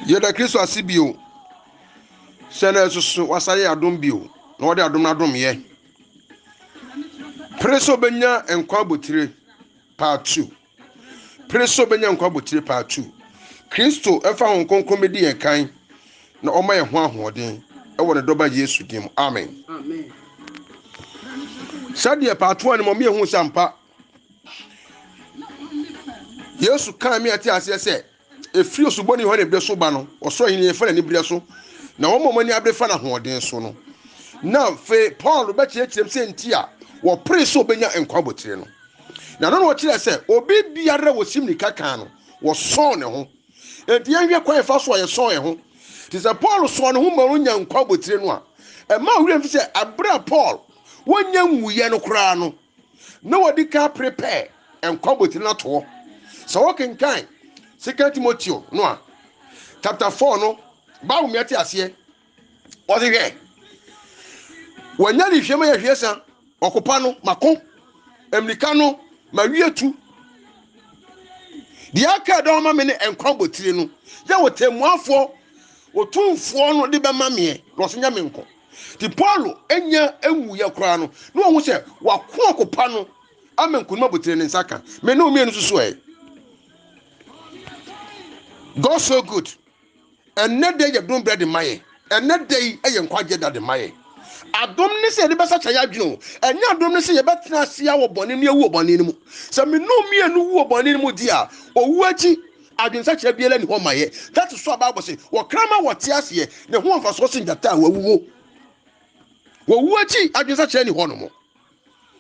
yɛda kristo ase bio sɛ na ɛsoso wasa yɛ adom bio na wɔde adom no adom yɛ pere sɛ obɛnya nkwa abotire part two pere sɛ obɛnya nkwa abotire part two kristo ɛfa ho nkonkron bɛdi yɛn kan na ɔma yɛn ho ahoɔden ɛwɔ ne dɔba yesu din mu amen sɛdeɛ part one no ma ɔmo yɛ hu sɛ ampa yesu kaa me ate aseɛ sɛ ɛfiri osubɔni yohane berɛ so ba no ɔsoro ahenni yɛfa n'ani berɛ so na wɔn a wɔn ani abere fa no ahoɔden so no na afei paul bɛkyerɛkyerɛm sɛ nti a wɔpere sɛ ɔbɛnya nkwa abotire no na no na ɔkyerɛ sɛ obi biara wɔsi mmirika kan no wɔsɔn ne ho enti yɛnhwɛ kwan fa so a yɛsɔn yɛn ho te sɛ paul sɔn ne ho ma ɔnya nkwa abotire no a ɛma werɛ mfi sɛ abere a paul wɔnya nwuyɛ no koraa no na wɔde ka prepare nkwa botire no ato hɔ. Sɛ wokenkan Second Timoteo no a, chapter four no, Bible mmea te aseɛ. Wɔde hwɛ. Wɔanya ne hwɛ ma yɛhwɛ sa ɔkopa no mako mmirika no ma wie tu. Deɛ aka dɔn ma me ne nkwa botire no yɛ wɔtɛmmuafoɔ otumfoɔ no de bɛma meɛ na ɔso nya me nko. Nti Paulo nya nwuiɛ koraa no, na ɔhu sɛ wako ɔko pa no ama nkonim abotire ne nsa ka. Me ne wo mmienu nso so ɛ. God so good. Ɛnnɛ da yɛ dom berɛ de ma yɛ. Ɛnnɛ da yi yɛ nkwagyeɛ da de ma yɛ. Adom ne sɛ yɛde bɛsakyɛ yɛ adwene o. Ɛnyɛ adom ne sɛ yɛbɛtena ase wɔ bɔne ne yɛwu wɔ bɔne no mu. Sɛ me ne wo mmienu wu wɔ bɔne no mu di a, owu akyi Adwensakyera biara nni hɔ ma yɛn. That is why Bible se, wɔkra ma wɔte aseɛ, na ɛho mfasoɔ sen gyata a wawuo. Wɔwu akyi, adwensakyera nni hɔ no mo.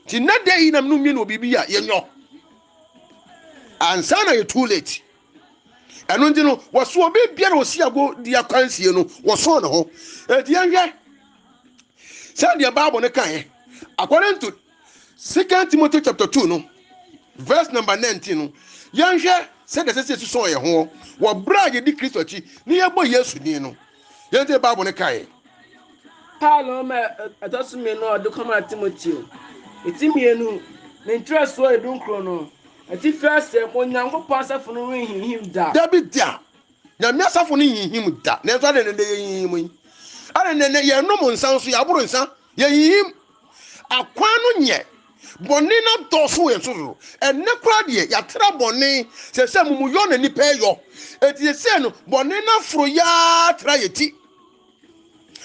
Nti nnɛ da yi na mene mmienu wɔ biribi a yɛnyɔ. Ansa na yɛ too late. Ɛno nti no, wɔso obi biara a ɔsi ago di akwansie no, wɔsɔn ne ho. Enti yɛnhwɛ sɛdeɛ Bible no kaeɛ according to Second Timothy chapter two no verse number nineteen no yɛnhwɛ sɛ deɛ ɛsɛ sɛ ɛsusɔn yɛn ho wɔ berɛ a yɛdi Kristo akyi ne yɛbɔ Yesu din no yɛn sɛ Bible no kaeɛ. Paulo ɔma ɛtɔ so mmienu a ɔde kɔmaa Timoteo. Ɛti mmienu, ne nkyerɛsoɔ edu nkron no, atifi aseɛ, Onyankopɔn asafo no renhinhim da. Dabi da. Nyame asafo no nhinhim da, nanso adɛn na nnɛ yehinhim yi? Adɛn na nnɛ yɛnom nsa nso, yɛaboro nsa, yehinhim? Akwan no nyɛ, bɔne no adɔɔso wɔ yɛn so dodo. Ɛnnɛ koraa deɛ, yɛatra bɔne, seesei amumuyɔ na nnipa reyɔ. Enti seesei no, bɔne no aforo yɛ ara tra yɛn ti.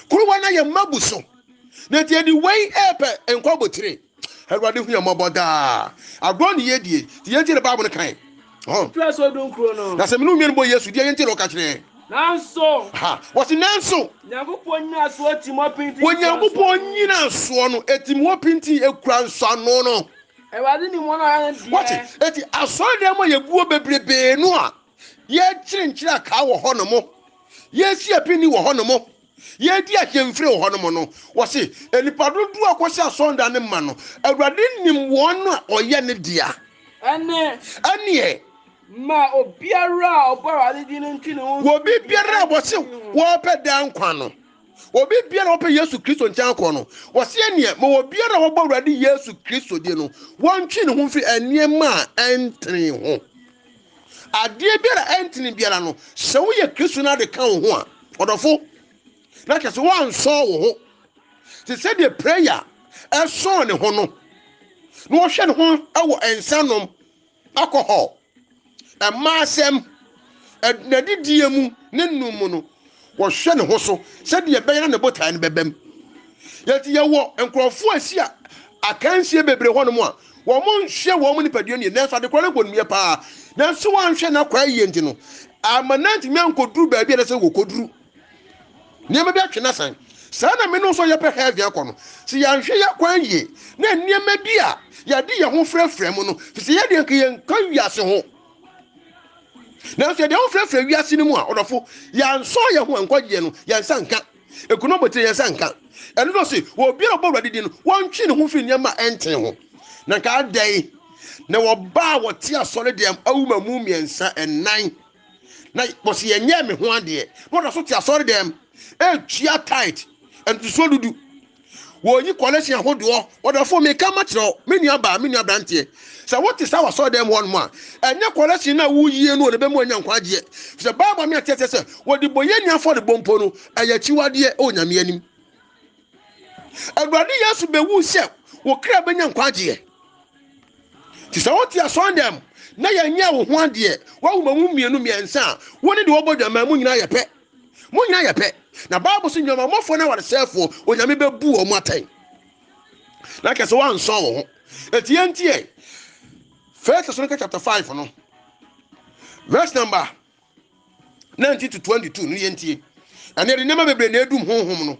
kuruwa no ayɛ mma bu so na nti yɛde wei ɛɛpɛ nkwa abotire awurade hu yɛ mmɔbɔ daa agorɔ ne yɛ die nti yɛn ti na baabo no kan na sɛ mene wo nnuane bɔ yesu deɛ yɛn ti na ɔka kyerɛ nanso ha wɔsi nanso nyankopɔn nyina soɔ tim hɔ pinti wɔ nyankopɔn nyina soɔ no ɛtim hɔ pinti ɛkura nsɔano no awurade ni mɔ no ayɛ deɛ wɔte ɛti asɔre dɛm a yɛguo bebrebee no a yɛkyere nkyerɛ akaa wɔ hɔ no mo yɛresi apini wɔ hɔnom, yɛredi ahyɛmfiri wɔ hɔnom no, wɔse nnipa dodoɔ a kɔhyɛ asɔnda no ma no, Awurade nim wɔn a ɔyɛ ne dea. Ɛne. Ɛneɛ. Ma obiara a ɔbɔ Awurade din no ntwe ne ho. Wɔ obi biara a wɔse wɔpɛ daa nkwa no. Obi biara a wɔpɛ Yesu Kristo nkyɛn akɔ no, wɔse ɛneɛ ma obiara a wɔbɔ Awurade Yesu Kristo din no, wɔntwe ne ho mfiri nneɛma a ɛntene ho. adeɛ biara a ɛntene biara no sɛ woyɛ kristo no ade ka wo ho a ɔdɔfo na kyɛ sɛ woansɔɔ wo ho te sɛdeɛ prayer ɛsɔɔ ne ho no na wɔhwɛ ne ho wɔ nsa nom alcohol ɛma asɛm n'adidie mu ne nom mu no wɔhwɛ ne ho so sɛdeɛ ɛbɛyɛ na ne botaeɛ no bɛbam yɛnti yɛwɔ nkurɔfoɔ a ɛsi a akansie bebree hɔ nom a wɔn nhwɛ wɔn nipadua nie nanso adekorɔ no bɔ nnua paa nanso wɔanhwɛ no akɔ ayie nti no ama no antumi ankɔduru baabi a na sɛ wɔkɔduru nneɛma bi atwe no asan saa na mene nso yɛpɛ heaven akɔ no sɛ yɛanhwɛ yɛ kwan yie na nneɛma bi a yɛde yɛn ho frɛfrɛ mu no fi sɛ yɛdeɛ nka yɛnka wiase ho nanso yɛde ho frɛfrɛ wiase no mu a ɔdɔfo yɛansɔ yɛn ho nkwagyeɛ no yɛn nsa nka ɛkunu abotire yɛn nsa nka ɛno no se wɔ obiara ɔbɔ awurade din no wɔntwe ne ho firi nneɛma a ɛnten ho na nka adɛn na wɔbaa wɔte asɔre deɛm awuma mu mmiɛnsa ɛnan na wɔsi yɛnyɛ me ho adeɛ na wɔda so te asɔre deɛm ɛtua tit ntotosoɔ dudu wɔyi kɔlɛsin ahodoɔ ɔdɔfo mi ka ma kyerɛ wo me nua baa me nua branteɛ sɛ wote saa wasɔre dɛm hɔ nom a ɛnyɛ kɔlɛsin no a woyie no na ɛbɛmu anya nkwagyeɛ sɛ bible me ateɛ sɛ sɛ wɔde bɔyɛ ni afɔrebɔ mpo no ɛyɛ akyiwadeɛ ɛwɔ nyame anim awurade yesu bɛwu sɛ wo kra bɛnya nkwagyeɛ nti sɛ wote asɔre dɛm na yɛnyɛ wo ho adeɛ woawo ma mu mmienu mmiɛnsa a wo ne de wɔbɔ dwamaa mu nyinaa yɛ pɛ Mo nyinaa yɛ pɛ. Na Bible so nnwamamɔfoɔ no awaresɛefoɔ, Onyame bɛbu wɔn atɛn. Na kɛ sɛ woansɔn wo ho. Enti yɛntiɛ. First Thessalonians chapter 5 no. Verse number 19 to 22 no yɛntie. Ɛne ɛde nneɛma bebree na ɛdum honhom no.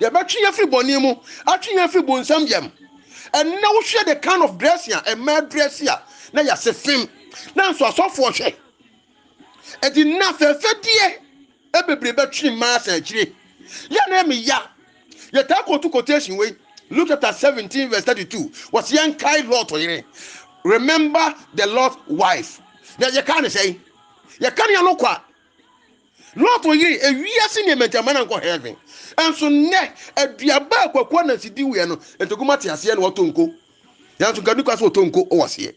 Yɛbɛtwe yɛn afiri bɔne mu, atwe yɛn afiri bonsam yam. Ɛnnɛ wohwɛ the kind of dressing a ɛmaa dress a na yɛase fem, nanso asɔfoɔ hwɛ. Ɛdi nna fɛfɛdeɛ bebree bɛtwe mmaa asan akyire. Yɛ na ɛmi ya. Yɛtaa kɔtu quotation wei. Luke chapter 17 verse 32. Wɔsi yɛn kae Lot yere. Remember the Lot wife. Na yɛka ne sɛn? Yɛka ne ano kwa. Lot yere e wiase nneɛma nti amma no ankɔ heaven. Nso nnɛ, aduaba a Kwaku Anansi di wieɛ no, Ntakum ate aseɛ na watɔ nko. Nanso nka Duka so ɔtɔ nko wɔ aseɛ.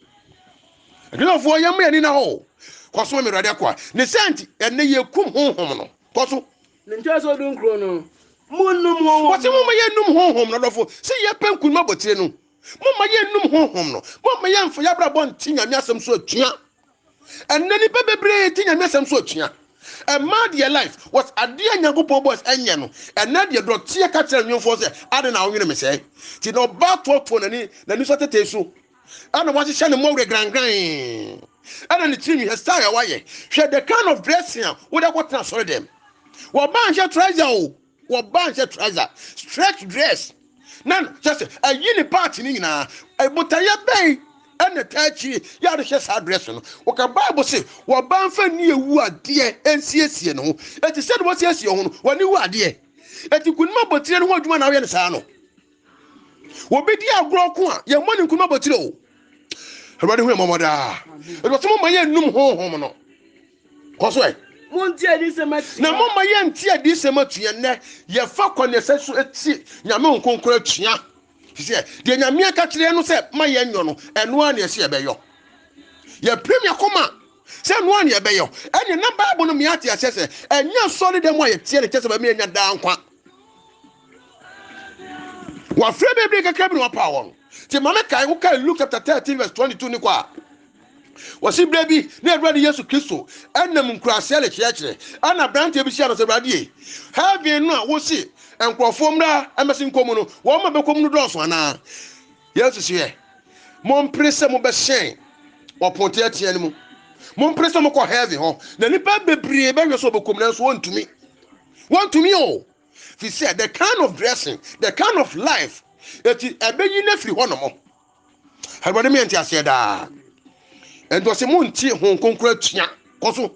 Aduafoɔ yɛmma yɛni na hɔ o. Kɔ so ma me Awurade akoa. Ne saa nti, ɛnnɛ yɛkum honhom no. Kɔ so. Ne nkyerɛsoɔ du nkron no, Monnum honhom no. Wɔse momma yɛnnum honhom no. Adɔfo, sɛ yɛpɛ nkunim abotire no, momma yɛnnum honhom no. Momma yɛmfa yɛabrabɔ nte Nyame asɛm so atua. ɛnɛ nnipa bebree gye nyame asɛm so atua ɛma deɛ life was adeɛ a nyankopɔn bɔs ɛnyɛ no ɛnɛ deɛ dɔteɛ ka kyerɛ nwemfoɔ sɛ ade na wonwene me sɛe nti na ɔbaa toɔtoɔ n'ani n'ani so atetee so ɛna wahyehyɛ ne mmɔwerɛ grangran ɛna ne tiri nwihɛ style a wayɛ hwɛ the kind of dressing a wode akɔtena asɔre dɛm wɔba nhyɛ trouser o Wɔba nhyɛ trouser, stretch dress na kyɛ sɛ ayi ne part no nyinaa. Botaeɛ bɛn ɛna ɛtaa akyiri yɛ a wɔhyɛ saa dress no? Wɔka Bible se wɔba mfa nni awu adeɛ nsiesie ne ho. Enti sɛdeɛ wɔsiesie wɔn ho no, wɔn ani wu adeɛ. Enti nkunim abotire no ho adwuma na wɔyɛ no saa no. wɔbɛdi agorɔ ko a yɛmmɔ ne nkuruma bɔtire o awurade hu ɛmɔmɔ daa ɛdɔsɛ moma yɛnnum honhom no kɔ so ɛ na moma yɛnte adisɛm atua nnɛ yɛfa kɔ ne ɛsɛ so ɛti nyame nkonkoro atua sɛ deɛ nyame aka kyerɛ no sɛ ma yɛnyɔ no ɛno a ne ɛsɛ yɛbɛyɔ yɛpirim yɛkoma sɛ ɛno a ne yɛbɛyɔ ɛne na bible no meate aseɛ sɛ ɛnyɛ sɔre dɛ mu a yɛteɛ ne kyɛ sɛ bɛma yɛnya daa nkwa wɔafrɛ bebree kakra bi na wɔapaw wɔn nti ma me kae wokae luke chapter 13 verse 22 ne kɔ a wɔsi berɛ bi na awurade yesu kristo ɛnam nkuraseɛ rekyerɛkyerɛ ɛna aberanteɛ bi hyia no sɛ awurade heaven no a wosi nkurɔfoɔ mmra ɛmɛsi nkɔ mu no wɔn ma bɛkɔ mu no dɔɔso anaa yesu sɛ yɛ mompere sɛ mobɛhyɛn ɔpon teatea no mu mompere sɛ mokɔ heaven hɔ na nnipa bebree bɛhwɛ sɛ wɔbɛkɔ mu nanso wɔntumi wɔntumi o Fi sɛ the kind of dressing, the kind of life, eti ɛbɛyi no afiri hɔ nom. Awurade mi ɛnte aseɛ daa. Ɛnti ɔsɛ mo nte ho nkonkoro atua kɔ so.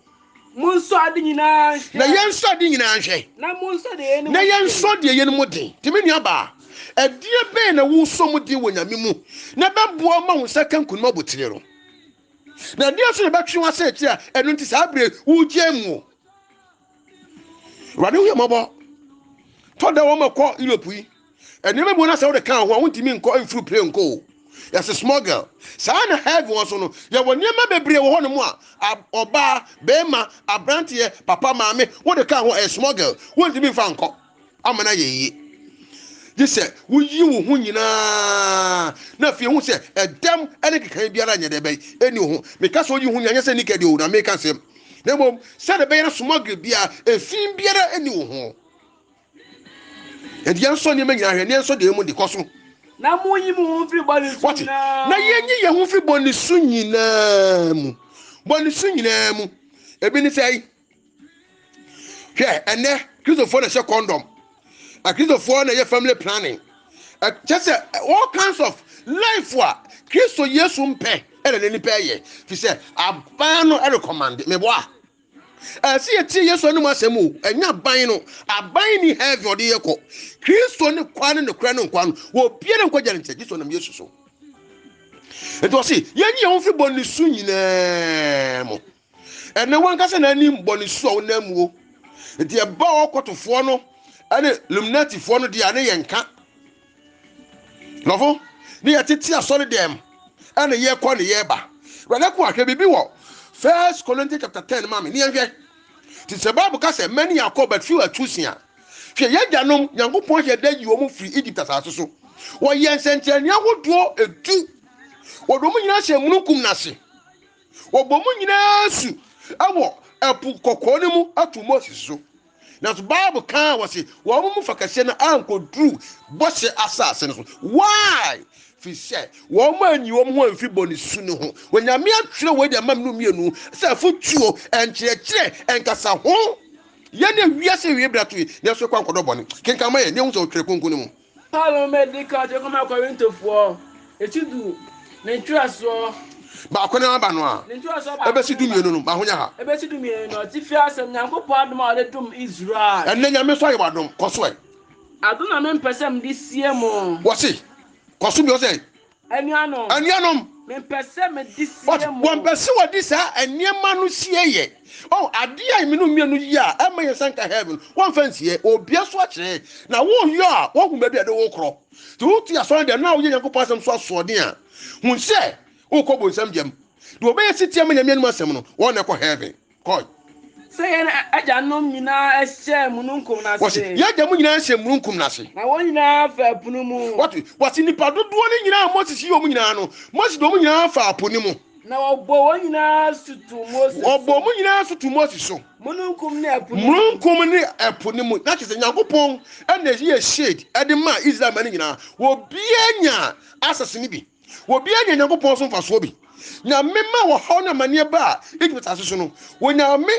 Mo nsɔ ade nyinaa nhwɛ. Na yɛn nsɔ ade nyinaa nhwɛ. Na mo nsɔ deɛ yɛn mu den. Na yɛn nsɔ deɛ yɛn mu den. Tèmi nua baa, ɛdeɛ bɛn na wosɔ mu den wɔ nyame mu na ɛbɛboa ma wo nsa ka nkunim abotire no? Na ɛdeɛ nso na ɛbɛtwe w'asɛ akyiri a ɛno nti saa bere wogyaa mu o? awurade woyɛ mmɔbɔ tɔ da wɔn ɛkɔ europe yi nneɛma bi wɔn asɛ wɔde kan ho a wɔntumi nkɔ mfiri pere nkɔ o yɛsɛ small girl saa na heavy wɔn so no yɛwɔ nneɛma bebree wɔ hɔnom a ɔbaa bɛrima aberanteɛ papa maame wɔde kan ho ɛyɛ small girl wɔntumi nfa nkɔ ama no ayɛ yie gye sɛ woyi wo ho nyinaa na afei ehu sɛ ɛdɛm ne kekan biara nyɛ dɛ bɛn ɛni wo ho meka sɛ woyi ho nyinaa nyɛ sɛ nika deɛ o na meka sɛm na mmom sɛ de bɛyɛ no smuggle biara efi biara ɛni wo ho ɛdeɛ nsɔ nneɛma nyinaa hwɛ ne nsɔ deɛ mu de kɔ so na monyi mo ho mfiri bɔne so nyinaa na yɛnyi yɛn ho mfiri bɔne so nyinaa mu bɔne so nyinaa mu ebi ne sɛ hwɛ ɛnɛ kristofoɔ na ɛhyɛ condom akristofoɔ na ɛyɛ family planning kyɛ sɛ all kinds of life a kristo yesu mpɛ ɛna ne nipa ɛyɛ fi sɛ aban no ɛrekɔmande meboa ɛsɛ yɛtie yesu anom asɛm o ɛnyɛ aban no aban ni heaven ɔde yɛ kɔ kristo ne kwa ne nokorɛ ne nkwa no wɔbia ne nkwagya ne nkyɛ kristo nam yesu so ɛti ɔse yɛnyi yɛn ho fi bɔ ne su nyinaa mu Ɛnne wankasa na anim bɔ ne su a ɔnam mu o. Nti ɛba ɔkɔtofoɔ no ɛne luminatifoɔ no deɛ ne yɛ nka. Nɔfo ne yɛ tete asɔre dɛm ɛne yɛ kɔ ne yɛ ba. Wɛlɛ ko ahwɛ biribi wɔ First Corinthians chapter ten ma me ne yɛnhwɛ. Ti sɛ Bible ka sɛ many are called but few are chosen a. Hwɛ yɛ agyanom Nyankopɔn ahyɛ da yi wɔn firi Egypt asase so. Wɔyɛ nsɛnkyerɛnne ahodoɔ edu. Wɔde wɔn nyinaa hyɛ mununkum n'ase. Wɔbɔ mu nyinaa su wɔ Ɛpo Kɔkɔɔ no mu ato Moses so. Nanso Bible kaa wɔ se wɔn mu fa kɛseɛ no ankoduru bɔhyɛ asase no so. Why? Fi sɛ wɔn anyi wɔn ho amfi bɔne su no ho. Onyame atwerɛ wei de ama menu mmienu sɛ afotuo, nkyerɛkyerɛ, nkasa ho. Yɛne wiase wie bra to yi, nanso ɛkɔ ankɔdɔ bɔne. Kenkan ma yɛn, na ehu sɛ ɔtwerɛ kronkron no mu. Paulo ma ɛdi kan ɔtwerɛ kɔma Korintofoɔ, ɛti du, ne ntwerɛsoɔ. Baako no ara ba no a, Ne ntwerɛsoɔ baako ɛbɛsi no du ba. mmienu no, ma ho nyɛ ha. Ɛbɛsi du mmienu no, atifi asɛm, Nyankopɔn adom a ɔde dom Israel. Ɛnnɛ Nyame nso ayɛ w'adom, kɔ so ɛ. Adom na mempɛ sɛ mede sie mo. Wɔse, kɔ so bi, ɔsɛ. Anuanom, but wɔmpɛ sɛ wɔde saa nneɛma no sie yɛ. Oh, adeɛ a mmienu mmienu yie a ɛma yɛn nsa nka heaven, wɔmfa nsie. Obia so akyerɛ na woyɔ a woahu baabi a ɛde wo korɔ. Nti wote asɔre dɛm na woyɛ Nyankopɔn asɛm so asoɔden a, hu sɛ wokɔ bonsam gyam. Deɛ ɔbɛyɛ setie ama Nyame anom asɛm no, wɔn na ɛkɔ heaven. Kɔ. Sɛ yɛn agyanom nyinaa hyɛɛ mununkum no ase. Wɔsi, yɛn agyanom nyinaa hyɛɛ mununkum no ase. Na wɔn nyinaa faa po no mu. Wɔte, wɔsi nipa dodoɔ no nyinaa a Moses yii wɔn nyinaa no, Moses de wɔn nyinaa faa po no mu. Na wɔbɔ wɔn nyinaa so tu Moses so. Wɔbɔ wɔn nyinaa so tu Moses so. Mununkum ne ɛpo no mu. Mununkum ne ɛpo no mu. Na kyerɛ sɛ Nyankopɔn na ɛyɛɛ shade de maa Israel mma no nyinaa. Obiara nyaa access no bi. Obiara nya Nyankopɔn so mfasoɔ bi. Nyame ma wɔhaw ne amaneɛ ba a Egypt asase so no, Onyame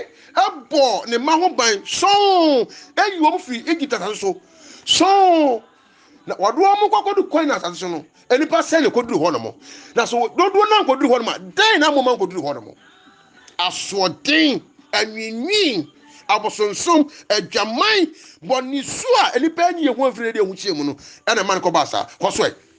bɔɔ ne mma ho ban sɔn ayi wɔn firi Egypt asase so sɔn na wɔde wɔn kɔkɔdu kwan na asase so no nnipa sɛn na ɛkɔduru hɔ nom na so dodoɔ no ankɔduru hɔ nom a dɛn na mmoma nkɔduru hɔ nom asoɔden anwinwin abosonsom adwaman bɔne su a nnipa anyi yɛ ho amfiri na ɛde ɛho kyerɛ mu no ɛna ɛma no kɔba saa kɔ so ɛ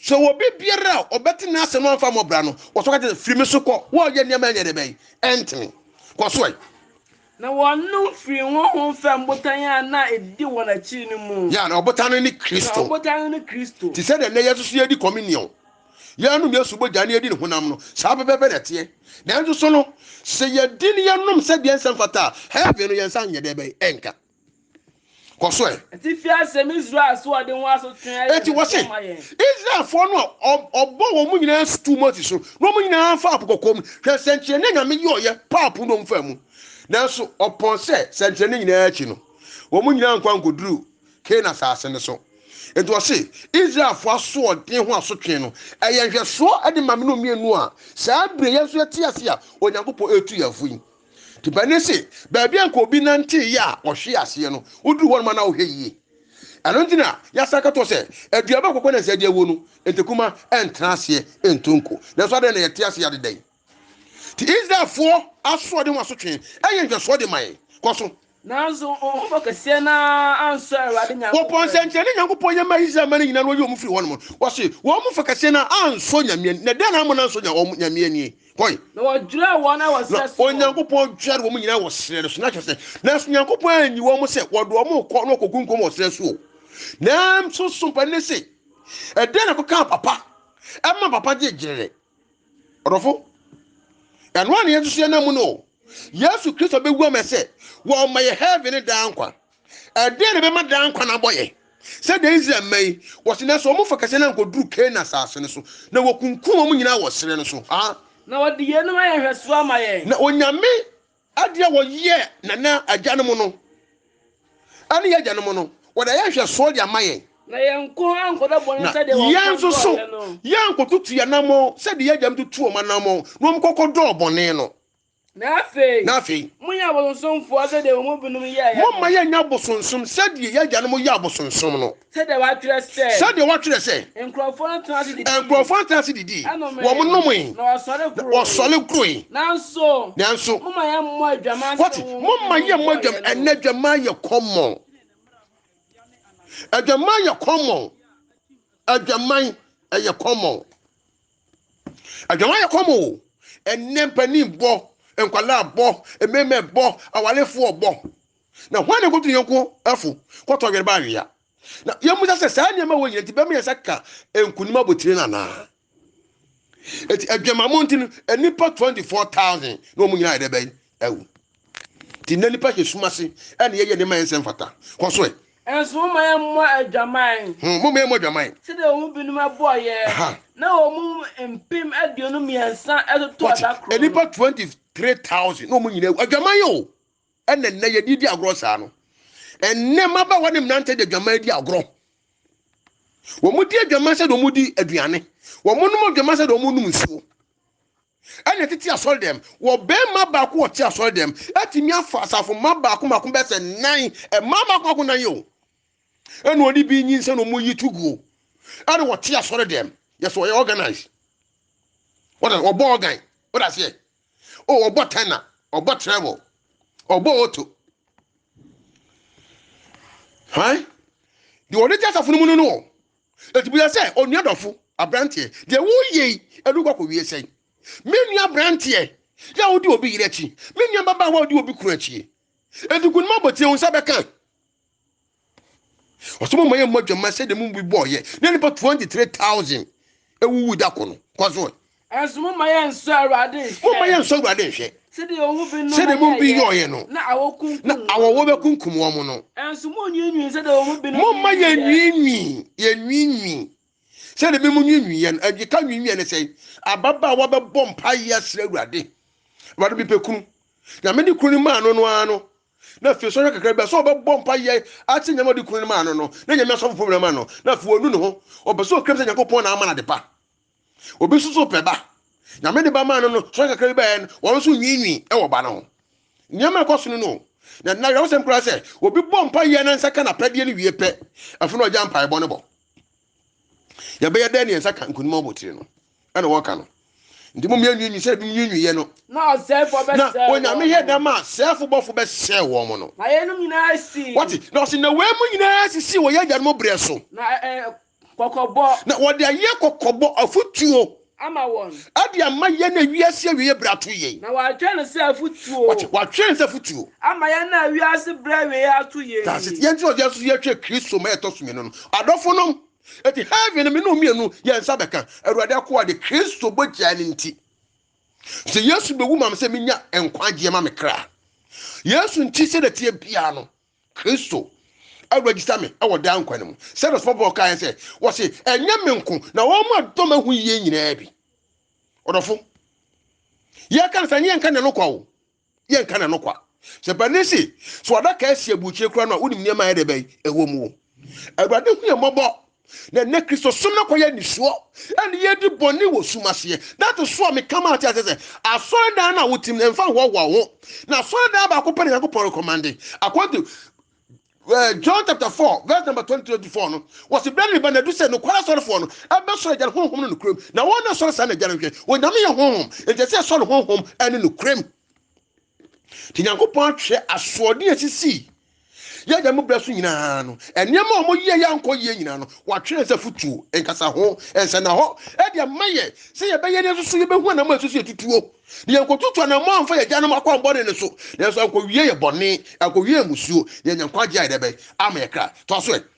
So obi biara a ɔbɛte n'asɛm no amfa mmɔbra no, wɔsɔ ka kyerɛ firi me so kɔ, wɔreyɛ nneɛma ɛnyɛ dɛ bɛn, ɛntene. Kɔ so ɛ. Na wɔnom firii honhom fam botan a na ɛdi wɔn akyiri no mu. Ya, na ɔbotan no ne Kristo. Na ɔbotan no ne Kristo. Te sɛdeɛ nnɛ yɛn nso so yɛredi Communion, yɛrenom Yesu bɔgya ne yɛredi ne honam no, saa pɛpɛɛpɛ na ɛteɛ. Nanso so no, sɛ yɛdi ne yɛnom sɛ deɛ ɛnsɛ mfata a, heaven no yɛn nsa nyɛ dɛ bɛn, ɛnka. kɔ so ɛ. Ɛte fi asɛm Israel asoɔden ho asotwe ayɛ Eti wɔ se, ma yɛn. Israelfoɔ no a ɔbɔ wɔn nyinaa sutuu Mose so, na wɔn nyinaa faa po kɔkɔɔ mu. Hwɛ sɛnkyerɛnne a Nyame yɔɔyɛ paa po no wɔn faa mu. Nanso ɔpɔn sɛ sɛnkyerɛnne nyinaa akyi no, wɔn nyinaa ankɔ ankɔduru Kanaan asase no so. Enti ɔse, Israelfoɔ asoɔden ho asotwe no, ɛyɛ nhwɛsoɔ de ma me ne wo mmienu a saa bire yɛn nso yɛte ase a Onyankopɔn retu yɛn fo yi. Te bɛne se baabi a nka obi nantee yɛ a ɔhwe aseɛ no, woduru hɔ nom a na wohwɛ yie. Ɛno nti na yɛasan ka to hɔ sɛ, Aduaba a kɔkɔ nansa di awuo no, ntakuma ntena aseɛ nto nko. Nanso adɛn na yɛte aseɛ adeda yi? Te Israelfoɔ asoɔden ho asotwe yɛ nhwɛsoɔ de ma yɛn. Kɔ so. Nanso honhom ɔkɛseɛ no ara ansɔ Awurade Nyankopɔn ani. Wɔbɔɔ nsɛnkyerɛnne a Nyankopɔn yɛ maa Israelman no nyinaa na wɔyii wɔn firii hɔnom. Wɔse, wɔn fa kɛseɛ no ara ansɔ Nyame ani. Na dɛn na amma no ansɔ Nyame ani? Hoi. Na wɔdwerɛɛ wɔn ara wɔ serɛ so. Na Onyankopɔn dwerɛɛ wɔn nyinaa wɔ serɛ no so. Na kyerɛ sɛ, nanso Nyankopɔn anyi wɔn sɛ wɔde wɔn rekɔ na wɔkɔgu nkwa mu wɔ serɛ so o. Nanso so mpanin no se, Ɛdeɛn na ɛkɔkaa papa ma papa gyee gyerere? ɔdɔfo ɛno a na yɛn nso yɛnam mu no yesu kristo bɛwu ama sɛ wɔma yɛ heaven ne daa nkwa ɛdeɛ na ɛbɛma daa nkwa no abɔ yɛ sɛ da israel mma yi wɔse na sɛ wɔmfa kɛsɛ no ankɔduru kana asase no so na wɔkunkum wɔn nyinaa wɔ serɛ no so ha na wɔde yeinom ayɛ nhwɛsoɔ ama yɛn na onyame Ade a wɔyɛɛ nana agyanom no ne yɛn agyanom no, wɔde ayɛ nhwɛsoɔ de ama yɛn. Na yɛn nko ankɔdɔ bɔne sɛdeɛ wɔn nso dɔɔeɛ no. Na yɛn nso so, yɛankɔtutu yɛn anammɔn sɛdeɛ yɛn agyanom tutuu wɔn anammɔn na wɔkɔkɔdɔɔ bɔne no. Na afei, na afei, monyɛ abosonsomfoɔ sɛdeɛ wɔn mu binom yɛeɛ no. Momma yɛnnyɛ abosonsom sɛdeɛ yɛn agyanom yɛɛ abosonsom no. Sɛdeɛ wɔatwerɛ sɛ. Sɛdeɛ wɔatwerɛ sɛ. Nkurɔfoɔ no tenaa ase didii. Nkurɔfoɔ no tenaa ase didii. Ɛnomee. Wɔn nomee. Na wɔsɔre guroe. Na wɔsɔre guroe. Nanso. Nanso. Momma yɛmmɔ adwaman sɛ. Wɔte, momma yɛmmɔ adwaman. Ɛnna adwaman yɛ kɔmmɔn. Adwaman yɛ kɔmmɔn. Adwaman ɛyɛ kɔmmɔn. Adwaman yɛ kɔmmɔn o. Ɛnna mpanin bɔ, nkwadaa bɔ, mmɛmɛ bɔ, awarefoɔ bɔ. Na hwan na ekotu ne yɔnko fo kɔ tɔwere ba awea? Na yemmisa sɛ, saa nneɛma wɔ nyina nti bɛma yɛn nsa ka nkonim abotire no anaa? Eti adwamammɔ nti no, nnipa 24,000 na wɔn nyinaa yɛ dɛ bɛn awu. Ti na nipa hyɛ sum ase ɛna yɛyɛ nneɛma yɛn nsɛm fata. Kɔ so ɛ. Nso momma yɛmmɔ adwaman. Hmm, momma yɛmmɔ adwaman. Sɛdeɛ wɔn mu binom ɛbɔɔ yɛ. Aha. Na wɔn mu mpem aduonu mmiɛnsa ɛtoto ɛda koro no. Nnipa 23,000 na wɔn nyinaa awu. Adwaman o. Ɛna nnɛ yɛde di agorɔ saa no. Ɛnnɛ mmabaawa ne mmerante de adwaman di agorɔ. Wɔdi adwaman sɛ deɛ wɔdi aduane. Wɔnom adwaman sɛ deɛ wɔnom nsuo. Ɛna tete asɔre dɛm, wɔ bɛrima baako ɔte asɔre dɛm atumi afa asafo mma baako mako bɛyɛ sɛ nan, mmaa baako baako nan yɛ o. Ɛna ɔde bi nyinsɛn na wɔyi to guo. Ɛna wɔte asɔre dɛm, yɛ sɛ ɔyɛ organize. Wɔda ɔbɔ organ, wɔda aseɛ. o oh, ɔbɔ tɛna ɔbɔ trɛbɔ ɔbɔ oto hwan deɛ ɔde gya asafo no mu no no wɔ ɛti bisa sɛ onua dɔfo aberanteɛ deɛ woyɛ yi ɛde wokɔ akɔwie sɛn me nua aberanteɛ yɛ a wode obi yerɛ akyi me nua babaawa a wode obi kunu akyi ɛti kunuma abɔtie wo nsa bɛka ɔsɛ mo ma yɛmmɔ adwamma sɛdeɛ mo mu bi bɔɔyɛ na nnipa 23000 ɛwuwu da ko no kɔ so ɛnso mo ma yɛnsɔ awurade nhwɛ mo ma yɛnsɔ awurade nhwɛ sɛdeɛ ɔhu bi no sɛdeɛ mo bi yɔɔyɛ no na awɔwɔ bɛkunkum wɔn no ɛnso mo nwiinwii sɛdeɛ ɔhu bi no mo ma yɛnwiinwii yɛnwiinwii sɛdeɛ bi mo nwiinwii yɛn ɛgyeka nwiinwii yɛn sɛ ababaawa bɛbɔ mpaeɛ asrɛ awurade awurade bi pɛ kunu nyame de kunu no maa no no ara no Na afei sɔhwɛ kakra bi a, sɛ ɔbɛbɔ mpa yɛ akyɛ nyama ɔde kunu no maa no no, na nyame asɔfo pom na ma no, na afei ɔnu ne ho, ɔpɛ sɛ ɔkram sɛ nyankopɔn na ama no adepa. Obi nso so pɛ ba, nyame de ba maa no no, sɔhwɛ kakra bi bɛyɛ no, wɔn nso nwiinwii ɛwɔ ba no ho. Nneɛma ɛkɔ so no no o. Na na yɛwɔ sɛm koraa sɛ, obi bɔ mpa yɛ na nsa ka n'apɛdeɛ no wie pɛ, afei na ɔgya mpaebɔ no bɔ. yɛbɛyɛ dɛn ne yɛn nsa ka nkonim abotire no ɛna wɔka no nti mo mmienu nwi sɛ bi nwi yɛ no na ɔsɛɛfo bɛsɛɛ na onyame yɛ dɛm a sɛɛfo bɔfo bɛsɛɛ wɔn mo no na yɛnom nyinaa si wɔte na ɔsi na wɔn mu nyinaa sisi wɔ yɛ agya no mo brɛ so na ɛɛ kɔkɔbɔ na wɔde ayɛ kɔkɔbɔ afutuo ama wɔn. Ɛde ama yɛn na wiase awieɛ berɛ ato yei. Na watwerɛ no sɛ afotuo. Wate, watwerɛ no sɛ afotuo. Ama yɛn na wiase berɛ awieɛ ato yei. That's it. Yɛn nti na ɔde ato so yɛhwɛ Kristo ma yɛtɔ so mmienu no. Adɔfonom, enti heaven no me ne wo mmienu yɛn nsa bɛka. Awurade akoa de, Kristo bɔgyaa no nti. Sɛ Yesu bɛwu ma me sɛ menya nkwagyeɛ ma me kra. Yesu nti sɛdeɛ ɛteɛ biara no, Kristo aregister me wɔ daa nkwa no mu. Sɛ na sɔfo Paul kaa yɛn sɛ, wɔse ɛnyɛ me nko na wɔn a dɔm ahu yie nyinaa bi. Ɔdɔfo, yɛka no sɛ nyɛ nka na no kwa o. Yɛ nka na no kwa. Sɛ panin si so adaka asi aburukyire kura no a wonim nneɛma a ɛyɛ dɛ bɛn ɛwɔ mu o. Awurade hu yɛn mmɔbɔ Na ɛnnɛ Kristosom no akɔyɛ nnisoɔ ɛne yɛdi bɔne wɔ sum aseɛ. That is why meka ma ate aseɛ sɛ asɔredan no a wotim no mfa nhoahoa wo ho. Na asɔredan baako pɛ na Nyankopɔn recommende according to uh, John chapter 4 verse number 23 to 4 no wɔsi bere ne ba na du sɛ nokware asɔrefoɔ no ɛbɛsɔre agya no honhom no nokorɛm na wɔn na ɛsɔre saa na agya no hwɛ onyame yɛ honhom nti ɛsɛ ɛsɔre honhom ɛne nokorɛm nti nyankopɔn atwerɛ asoɔden a ɛsisii yɛ da mu berɛ so nyinaa no nneɛma a wɔyɛ yɛ ankɔ yie nyinaa no wɔatwerɛ sɛ fotuo nkasa ho nsɛnna hɔ ɛde ama yɛ sɛ yɛbɛyɛ ne nso yɛbɛhu anamɔ a ɛsɛ sɛ yɛtutuo na yɛnkɔtutu anamɔ amfa yɛ agyanom akwammɔne no so nanso ankɔwie yɛ bɔne ankɔwie yɛ musuo yɛ nyankwagye a yɛdɛ bɛn ama yɛ kra toa so ɛ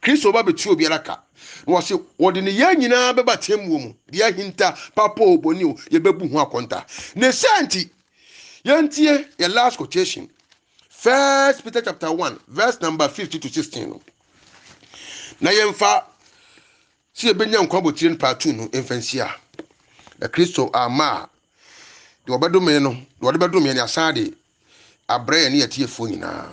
Kristo ba bɛtua obiara ka. Na wɔse wɔde ne yɛn nyinaa bɛba atemmuo mu, deɛ ahinta, papa o, bɔne o, yɛbɛbu ho akɔnta. Ne saa nti, yɛntie yɛ last quotation, First Peter chapter 1 verse number 50 to 16 no, na yɛmfa sɛ yɛbɛnya nkwa botire no paatu no mfa nhyia. Na Kristo ama a, deɛ ɔbɛdome no, deɛ ɔde bɛdome ne asan de abrɛ yɛne atiefoɔ nyinaa.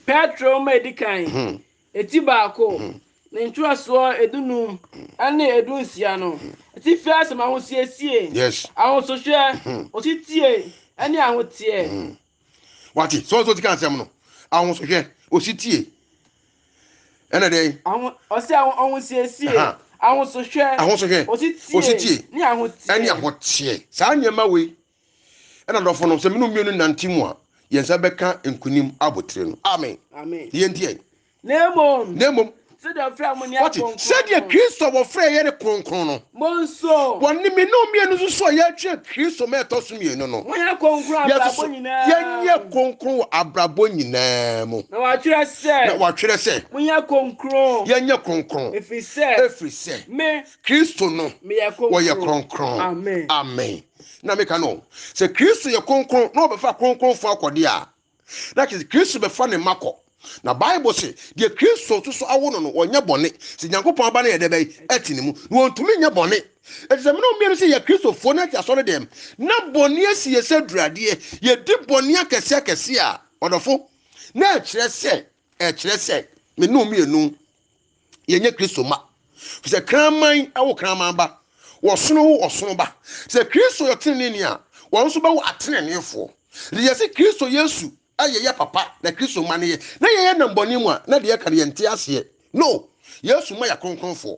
Petro ma edi kan, hmm. eti baako, hmm. ne ntwerɛsoɔ edunum hmm. ne edunsia no, atifi asɛm ahosiesie, ahosohwɛ, ositie ne ahoteɛ. Wate, sɛ ɔsɛ ɔti ka asɛm no, ahosohwɛ, ositie, ɛna dɛn? Ɔsɛ ahosiesie, ahosohwɛ, ositie ne ahoteɛ. Saa nneɛma wei Ɛna adɔfo no, sɛ mene mmienu nante mu a, yɛn nsa bɛka nkonim abotire no. Amen. Amen. Yɛn ntiɛ. Na mmom. Na mmom. Sɛdeɛ wɔfrɛ wɔn ne akronkron. Sɛdeɛ Kristo wɔfrɛ yɛ ne kronkron no. Mo nso. Wɔn ne mene mmienu nso so a yɛatwe Kristo ma ɛtɔ so mmienu no. Wɔn yɛ kronkron abrabɔ nyinaa. Yɛnyɛ kronkron wɔ abrabɔ nyinaa mu. Na wɔatwerɛ sɛ. Na wɔatwerɛ sɛ. Monyɛ kronkron. Yɛnyɛ kronkron. Ɛfiri sɛ. Ɛfiri sɛ. Me. Kristo no. Meyɛ kronkron. Wɔyɛ kronkron. Amen. Amen. na meka no sɛ kristo yɛ kronkron na ɔbɛfa kronkronfo akɔde a na kyerɛ sɛ kristo bɛfa ne mma kɔ na bible se deɛ kristo nso so awo no no wɔnyɛ bɔne sɛ nyankopɔn aba no yɛ dɛ bɛyi ɛte ne mu na wɔntumi nyɛ bɔne ɛte sɛ mene mmienu sɛ yɛ kristofoɔ no ate asɔre dɛm na bɔne asi yɛ sɛ duradeɛ yɛdi bɔne akɛse akɛse a ɔdɔfo na ɛkyerɛ sɛ Ɛkyerɛ sɛ me ne wo mmienu yɛnyɛ Kristo mma. Fi sɛ kraman wo kraman ba, ɔsono wo ɔsono ba. Sɛ Kristo yɛ ɔteneneeni a, wɔn nso bɛwo ateneneefoɔ. Enti yɛ sɛ Kristo Yesu a yɛyɛ papa na Kristo mma no yɛ. Na yɛyɛ nnambɔne mu a, na deɛ ɛka no yɛnte aseɛ. No, Yesu mma yɛ akronkronfoɔ.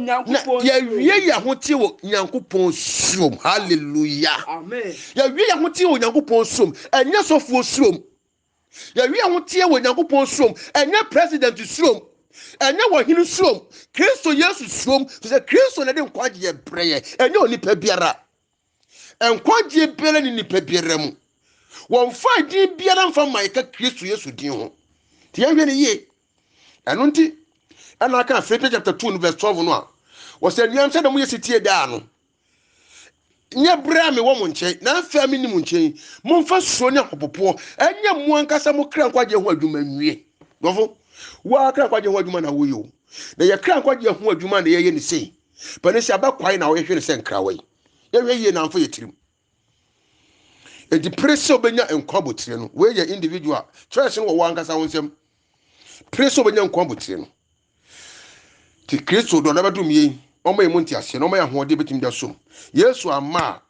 Na yɛawie yɛn ahoteɛ wɔ Nyankopɔn suom. Hallelujah. Yɛawie yɛn ahoteɛ wɔ Nyankopɔn suom. Ɛnyɛ sɔfoɔ suom. Yɛawie yɛn ahoteɛ wɔ Nyankopɔn suom. Ɛnyɛ president suom. Ɛnyɛ wɔhene suom. Kristo Yesu suom. Firi sɛ Kristo na ɛde nkwagyeɛ brɛ yɛn. Ɛnyɛ onipa biara. Nkwagyeɛ biara ni nipa biara mu. Wɔmfa din biara mfa mma yɛka Kristo Yesu din ho. Nti yɛnhwɛ no yie. Ɛno nti, ɛna aka Philippians chapter 2 no verse 12 no a, wɔsɛ anuam sɛ na moyɛ setie daa no. Nyɛ berɛ a mewɔ mo nkyɛn na afei a menni mo nkyɛn, momfa suro ne ahopopoɔ ɛnyɛ mo ankasa mo kra nkwagyeɛ ho adwuma nwie. Dɔfo, woa kra nkwagyeɛ ho adwuma na woyɛ o. Na yɛ kra nkwagyeɛ ho adwuma na yɛyɛ ne sei. Pɛne sɛ abɛ kwae na ɔyɛhwɛ no sɛ nkrawa yi. Yɛhwɛ yie na amfa yɛ tirim. Enti pere sɛ wobɛnya nkwa botire no. Wei yɛ individual. Choice no wɔ wɔ ankasa wo nsam. Pere sɛ wobɛnya nkwa botire no. Ti Kristo dɔ na bɛdom yɛn. Ɔma yɛn mu nteaseɛ na ɔma yɛn ahoɔden bɛtumi da som. Yesu amma a,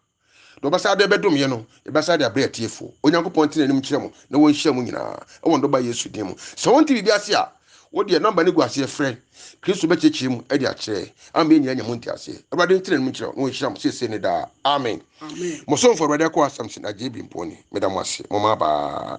Na ɔbɛsa de bɛdom yɛ no, yɛbɛsa de abrɛ atiefoɔ. Onyankopɔn ntene anim nkyerɛ mo na wɔnhyira mo nyinaa wɔ ne Dɔba Yesu din mu. Sɛ wonte biribi ase a, wo deɛ nɔmba no gu aseɛ frɛ. Kristo bɛkyerɛkyerɛ mu de akyerɛ. Ama yɛn nyinaa anya mo nteaseɛ. Awurade ntene anim nkyerɛ wo na ɔnhyira mo seesei ne daa. Amen. Mo somfo Awurade Akoa Samson Agyei Bimponi. Meda mo ase. Mo mmaabaa.